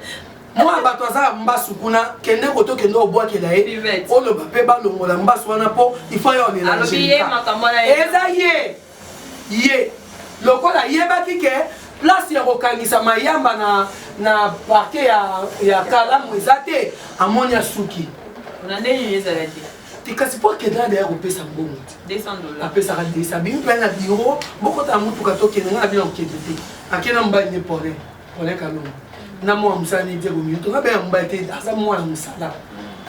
mwana bato aza mbasu kuna kende koto kende obwakela ye oloba mpe balongola mbasu wana mpo ifo yo olela eza ye ye lokola ayebaki ke place ya kokangisa mayamba na, na parke ya, ya kalamu eza te amoni asuki na ndenge ezalaki te kasi mpo akenda deya kopesa mbongo te apesaka desa bimi mpe na biro bokota na motuka tokende ngai na bino akende te akenda mobali nde pole Colin Kalongo na mwana mosala ne Diego Minuto nga bana mobali te aza mwana mosala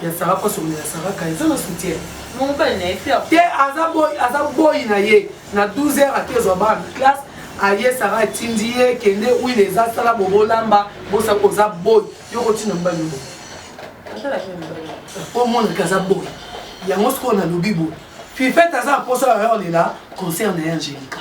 ya Sarah poso ya Sarah ka eza na soutien mobali na ye te aza boy aza boy na ye na 12 heures ate zwa bana classe aye Sarah atindi ye kende huile eza sala bobolamba bosa oza boy yo kotina mobali yo po mwana ke aza boy yango sikoyo nalobi boye fifete aza na posa ya heure lela concert na ye angelica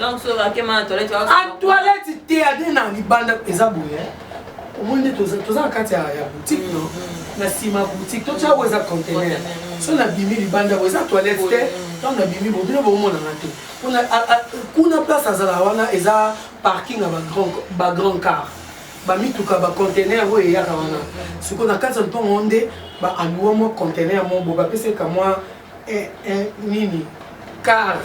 donc soki akema na toilette a toilette te ade na libanda eza boye omoni nde toza na kati ya boutique no mm-hmm. na nsima boutique totya oyo eza contenaire mm-hmm. so nabimi libanda oyo eza toilette te mm-hmm. ntango nabimi bobino bomonana te mpona kuna place azala wana eza parking ya bagrand car bamituka bacontenaire oyo eyaka wana sikoyo na kati ya mpongo nde baalua mwa contenaire moko bo bapeseka mwa Eh eh nini car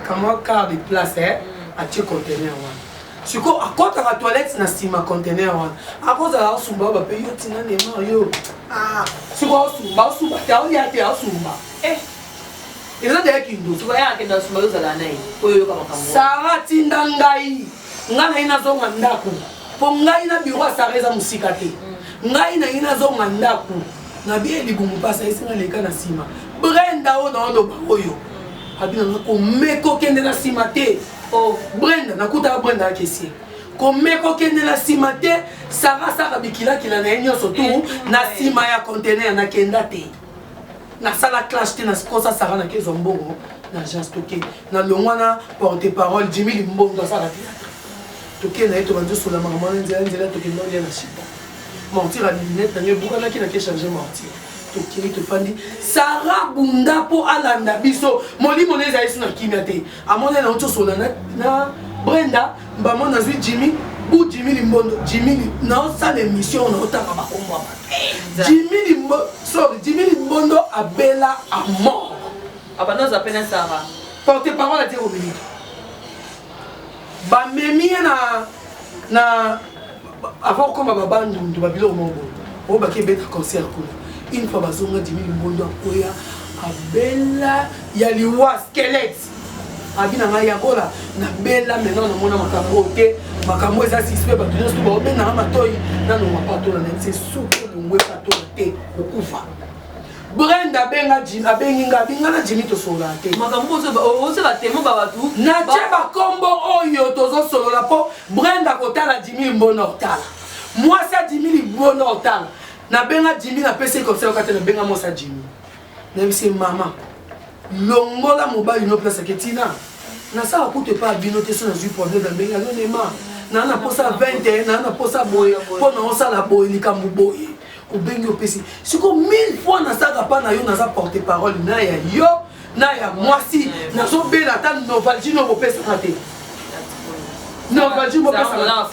kamwa car de place eh mm. atie conteneur wana sikoyo akɔtaka toilette na nsima conteneur wana akozala osumba oyo bape yo ntina nema yo ah, sikoyo osumba osumba te aolia te osumba eh. eza deya kindo sara tinda ngai ngai naye nazonga ndako mpo ngai na biro ya sara eza mosika te mm. ngai naye nazonga ndako na bien libumu pasi ayesi nga leka na nsima brenda oyo naoloba oyo abi nanga komeka okende na nsima te o oh, brenda nakutaka brenda akesie komeka okende na nsima te sara asaka bikilakila na ye nyonso tu eh, na eh. nsima ya contener nakenda te nasala clash te nakosa sara nakezwa mbongo na agence toke nalongwa na porte parole jimi limbondo asala te toke na ye tobandi osola makambo wana nzela nzela tokenda olia na chipo mortire ya lunette na ngai ebukanaki na ke change mortire tokimi tofandi sara bunda mpo alanda biso molimo na ezalisi na kimia te amona na otosola na brenda mbamo nazwi jimi bu jimi limbondo jimi naosala émission naotanga bakombo ya bato jimi limbo sorry jimi limbondo abela a mort abanoza mpe na sara porte parole atie kominiki bamemi ye na na Avant okoma ba bandundu ba biloko moko boye, oyo baki ebeta concert kuna. Une fois bazonga Jimmy Limbondo akoya abela ya liwa squelette. Abi na ngai yakola na bela maintenant na mona makambo oyo te. Makambo eza suspect bato nyonso baobenga nga matoi nano mapatola na ye se suki olongwe patola te okufa. Brenda benga Jimmy abengi nga binga na Jimmy tosolola te. Makambo ozo ozo ba temo ba batu. Na tie ba kombo oyo tozo solola po Brenda kotala Jimmy mbona otala. Mwasi a Jimmy libona otala. Na benga Jimmy na pesi comme ça okate na benga mwasi a Jimmy. Na bisi mama. Longola mobali no place ke Tina. Na sala kutu epa bino te so na zui problème na benga no nema. Na na posa 21 na na posa boye po na osala boye likambo boye. obengi opesi siko mille fois nasaka pa na yo naza porte parole na ya yo na ya mwasi nazobela ata novalgie no bopesaka te novalgie bopesaka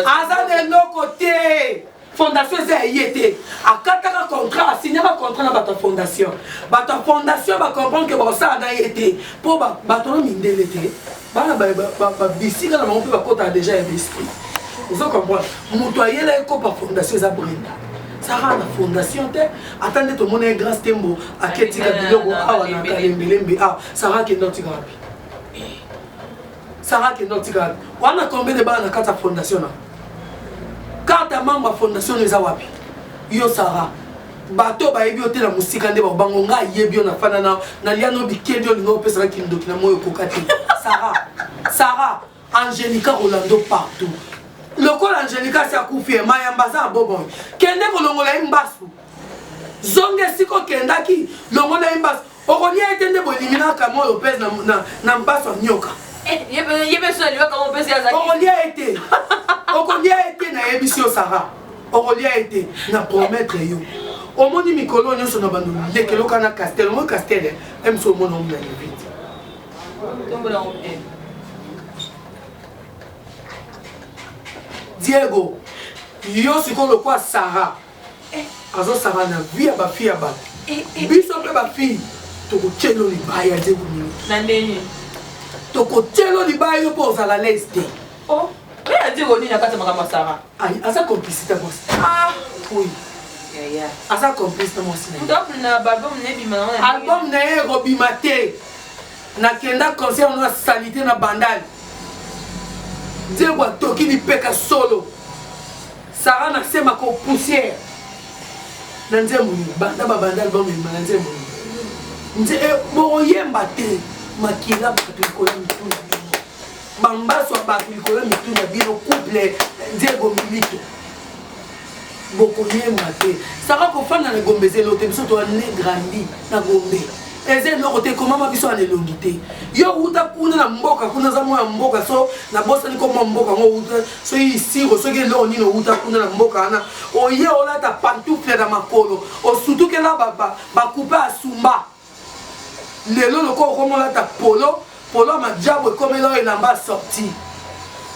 aza na eloko te fondation eza ya ye te akataka contrat asignaka contrat na bato ya fondation bato ya fondation bacomprendre ke bakosala na ye te mpo bato na mindele te bana babisika na bango mpe bakotaka deja ya besprit ozo comprendre moto ayela ekopa fondation eza brenda sara na fondation te ata nde tomona ye grace tembo aketika biloko awa na kalembelembe awa sara akenda otika wapi sara akenda otika wapi wana combien de bana na kati ya fondation na karte ya membre ya fondation eza wapi yo sara bato oyo bayebi yo te na mosika nde bakobango nga ayebi yo na fana na nalia no bikedi olinga opesaka kindoki na moi okoka te sara sara angelica rolando partout lokola angelica asi akufi ye mayamba aza aboboy kende kolongola ye mbasu zonga esika okendaki longola ye mbasu okolia ete nde boeliminaka moi lopez na, na, na mbaso ya nyoka eh, okolia ete okolia ete nayebisi yo sara okolia ete na promettre yo omoni mikolo nyonso na bando lekeloka na castel omoni castel eh? emso omona omona levite diego yo sikoyo lokwa sara azo saba na vie ya ba fille ya batu biso mpe ba fille tokotyelo libaya te bolingo na ndenge tokotyelo libaya yo mpo ozala laise te oh, oyo adi koni na kati ya makambo ya sara aza complicité mwasi ah. oui aza complice na mwasi album na ye ekobima te nakenda concert na salite na bandale diego atoki lipeka solo Sarah na sema ko poussière na nzembo nini banda babanda album ebima na nzembo nini nze eh, bokoyemba te makila bato likolo ya mitu na bino bambaso ya bato likolo ya mitu na bino couple eh, nzego milito bokoyemba te saka kofanda na gombe ezelo te biso toane grandi na gombe eza eloko te ekomama biso ana elongi te yo wuta kuna na mboka kuna aza mwa ya mboka so nabosani komwa mboka yango wuta soki siro soki eloko nini owuta kuna na mboka wana oye olata pantouple na makolo osutukela bakupe asumba lelo lokola okomi olata polo polo ya majabu ekomela oyo elamba asorti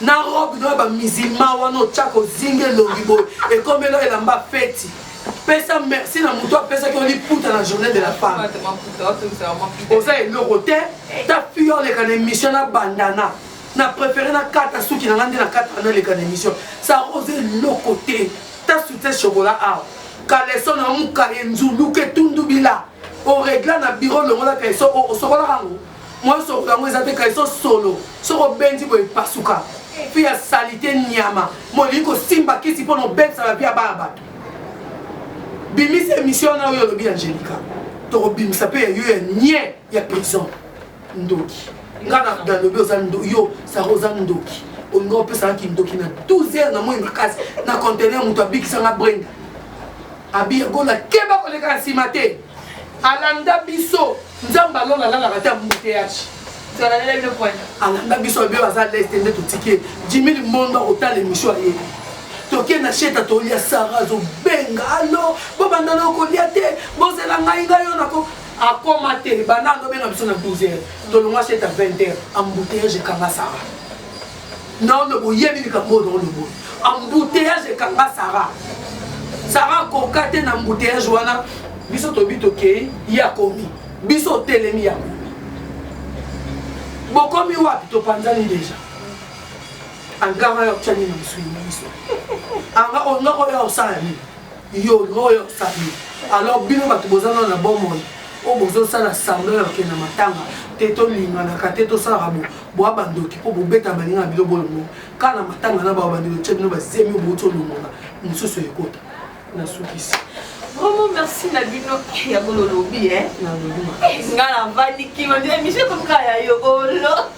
na robe noya bamizilma wana otyaka ozinga elongi boye ekomela oyo elamba feti pesa merci na moto apesaki oliputa na journée de la femme oza eloko te ta fi oleka na émission na bandana na préféré na kata suki na nga nde na kata naleka na émission sa oza eloko te ta soutien chocolat awa kaleso na muka ye nzuluke tundubila oregla na biro longola kaleso osokolaka yango mwa osokola yango eza te kaleso solo soki obendi boye epasuka mpe ya salite nyama molingi kosimba kisi mpo na obebisa bavi ya bana bato bimisa émission wana oyo olobi ya angelica tokobimisa mpe ya yo ya nie ya prison ndoki nga na dalobi oza ndo yo sara oza ndoki olinga opesaka kindoki na 12 heures na moi makasi na contener moto abikisanga brenda abiyagola keba koleka na nsima te alanda biso nzambe alona alalaka te ambuteyaci alanda biso abiyo aza leste nde totike jimi limondo akotala emission aye toke na sheta tolia sara azobenga alo bobanda na okolia te bozela ngai ngai yo nako akoma te banda andobenga biso na 12 heures tolongwa chet à 20 heures embouteillage ekanga sara naono boyebi likambo oyo naono boye embouteillage ekanga sara sara akoka te na embouteillage wana biso tobi tokei ye akomi biso otelemi ya komi bokomi wapi topanzani deja anganga ya otyani na mosuni na biso anga onoko ya osala nini Yo oyo famille alors bino batu boza nano na bomoi oyo bozo sala semblant ya kokende na matanga te to linganaka te to salaka bo boa ba ndoki po bo betaka baninga na bino bo longonya kaka na matanga na ba bandi ko tia bino ba zemi oyo bowuti olongola mosusu ekota na sukisi. Vraiment merci na bino ya bolo lobi eh. Na lobi. Nga na vandi kima ndio emission comme kaya yo olo.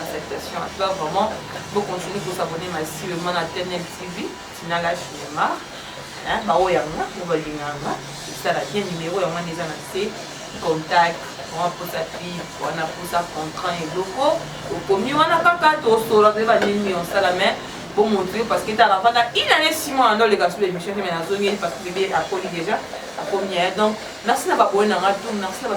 Acceptation à toi vraiment. Vous continuez pour s'abonner massivement à TNL TV, Tinala Cinéma. Hein, bah oh yanga, vous voyez yanga. Ça la bien numéro yanga déjà na c'est contact. Wana posa fille, wana posa contrat et loko. Okomi wana kaka to solo de ba nini on sala mais bon montrer parce que t'as la fata une année six mois dans les gars sur l'émission mais na zongi parce que bébé a connu déjà a connu donc merci na ba bonne na tout merci na ba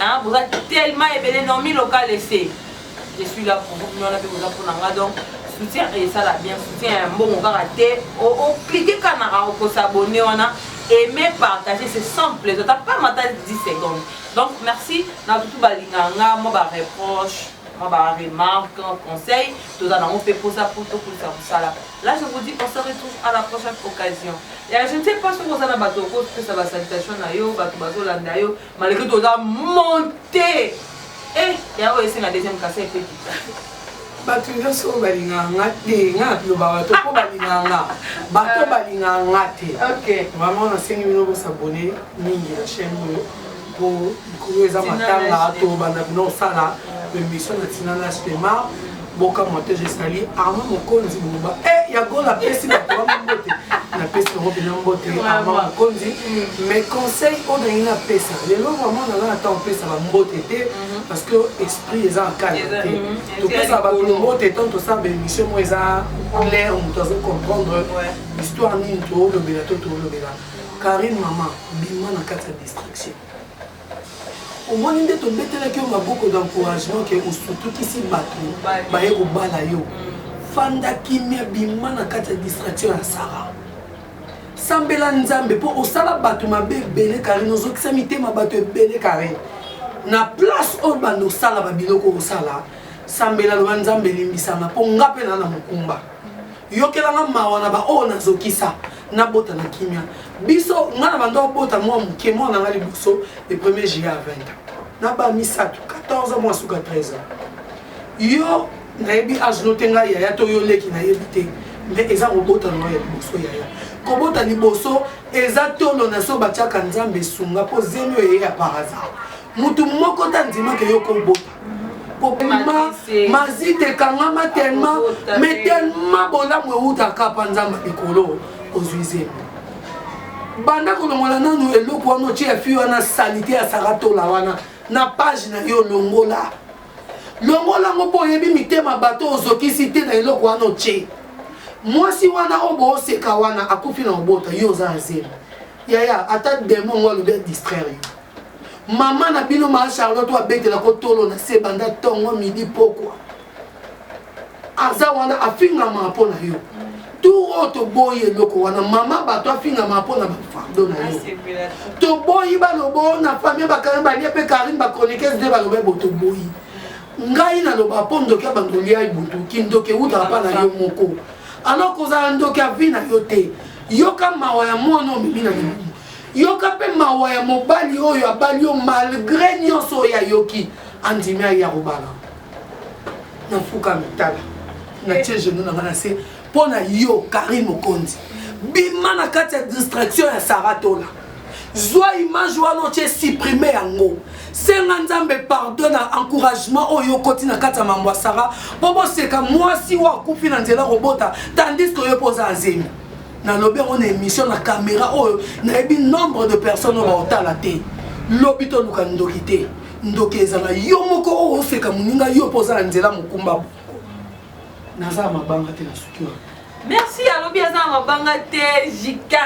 Hein, boza tellement ebele nomi local ese. Je suis là pour vous, non, avec boza pona nga donc soutien et ça la bien soutien ya mbongo kaka te o o cliquer kana au ko s'abonner wana aimer partager c'est simple eza pas mata 10 secondes donc merci na tout balinga nga moi ba reproche moi ba remarque conseil toza nango mpe mposa mpo tokolisa mosala là je vous dis on se retrouve à la prochaine occasion ya je ne sais pas soki oza na bato okopesa basalutation na yo bato bazolanda yo Malgré tout oza monte. Eh, ya oyo esenga deuxième kasa epe kita. bato nyonso oyo balingaka nga te nga nabiloba bato mpo balingaka nga bato ah. balingaka nga te vraiment nasengi bino bosabone mingi na chaîne oyo mpo likolo eza matanga tobanda bino osala emission na tina na spema Bokamwa te je sali Armand Mokonzi Buluba. Eh ya gola pesi ba kwa mbote. Na pesi ngo pena mbote Armand Mokonzi. Mais conseil on a ina pesa. Lelo vraiment na na temps pesa ba mbote te parce que esprit eza en calme te. To pesa ba mbote tant to sa ba émission mo eza clair on doit comprendre histoire nini to lobela to to lobela. Karine maman bima na kati ya distraction. Omoni nde tobetelaki yo maboko d'encouragement ke osutukisi bato baye kobala yo. Fanda kimia bima na kati ya distraction ya Sarah. Sambela Nzambe mpo osala bato mabe ebele Carine ozokisa mitema bato ebele Carine. Na place oyo banda osala ba biloko osala sambela loba Nzambe limbisa nga mpo nga mpe na na mokumba. yokela nga mawa na baoyo nazokisa nabota na kimia biso nga na banda obota mwa moke mwana na nga liboso le premier juillet ya 20 na ba misato 14 ans mwa suka 13 ans yo nayebi age no te ngai yaya to yo leki nayebi te mais eza kobota na nga ya liboso yaya kobota liboso eza tolo na so batiaka nzambe esunga mpo zemi oyo eye ya par hasard motu moko te andimaka yo kobota kopema mazita ekangama telema me telema bolamu ewutaka mpa nzambe likolo ozwi zemi banda kolongola nanu eloko wana otye ya fi wana salite ya saratola wana na page na yo longola longola yango mpo oyebi mitema bato ozokisi te na eloko wana otye mwasi wana oyo booseka wana akufi na obota yo oza na zemi yaya ata demo yango alobi ya distraire yo mama na bino maa charlotte oyo abetelako tolo na se banda tongo midi pokwa aza wana afingamaka mpo na yo tour oyo toboyi eloko wana mama bato afingamaka mpo na bafardo na yo toboyi balobo na famille bakarine balie mpe karine bachroniquese nde baloba bo toboyi ngai naloba mpo ndoki ya bandondi ya ibutu kindoki ewutaka mpa na yo moko alors kozala ndoki ya vi na yo te yoka mawa ya mwana omemi na libumu yoka mpe mawa ya mobali oyo abali yo malgre nyonso oyo ayoki andimi aye akobala nafuka mitala natie genou na ngai na se mpo na yo Carine Mokonzi bima na kati ya distraction ya Sarah Tola zwa image wana otie supprime yango senga nzambe pardon na encouragement oyo okoti na kati ya mambo ya sara mpo boseka mwasi oyo akufi na nzela kobota tandis ke oyo mpo oza azemi nalobi yango na émission na kamera oyo nayebi nombre de personnes oyo baotala te lobi toluka ndoki te ndoki ezala yo moko oyo oseka moninga yo mpo oza na nzela mokumba naza ya mabanga te nasuki wana merci alobi aza na mabanga te jika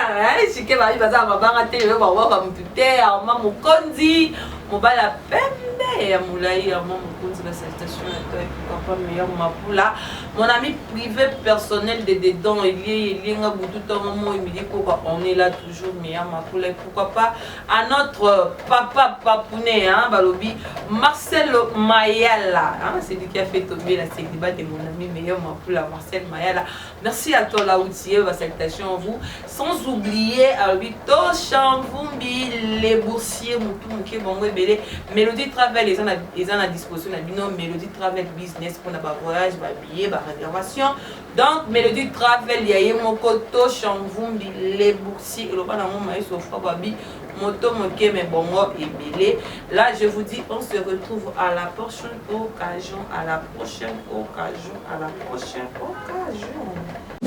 jike babi baza na mabanga te lelo baobaka motu te arma mokonzi mobali ya pembe ya molai arma mokonzi na salutation ya toi papa meilleur mapula mon ami privé personnel de dedans elie elienga butu ntongo moi midi koka on est là toujours meilleur mapula et pourquoi pas à notre papa papounet hein, balobi Marcel Mayala hein, c'est lui qui a fait tomber la célibat de mon ami meilleur mapoula Marcel Mayala merci à toi Laoutie ma salutation à vous sans oublier alobi Toshan Vumbi les boursiers mutu moke bango ebele Melody Travel eza na eza na disposition na bino Melody Travel business mpona ba voyage ba billet ba réservation Donc Melody Travel ya ye moko to Shamvumbi Lebuxi eloba nango Maestro Fababi moto moke mais bongo ebele. Là je vous dis on se retrouve à la prochaine occasion, à la prochaine occasion, à la prochaine occasion.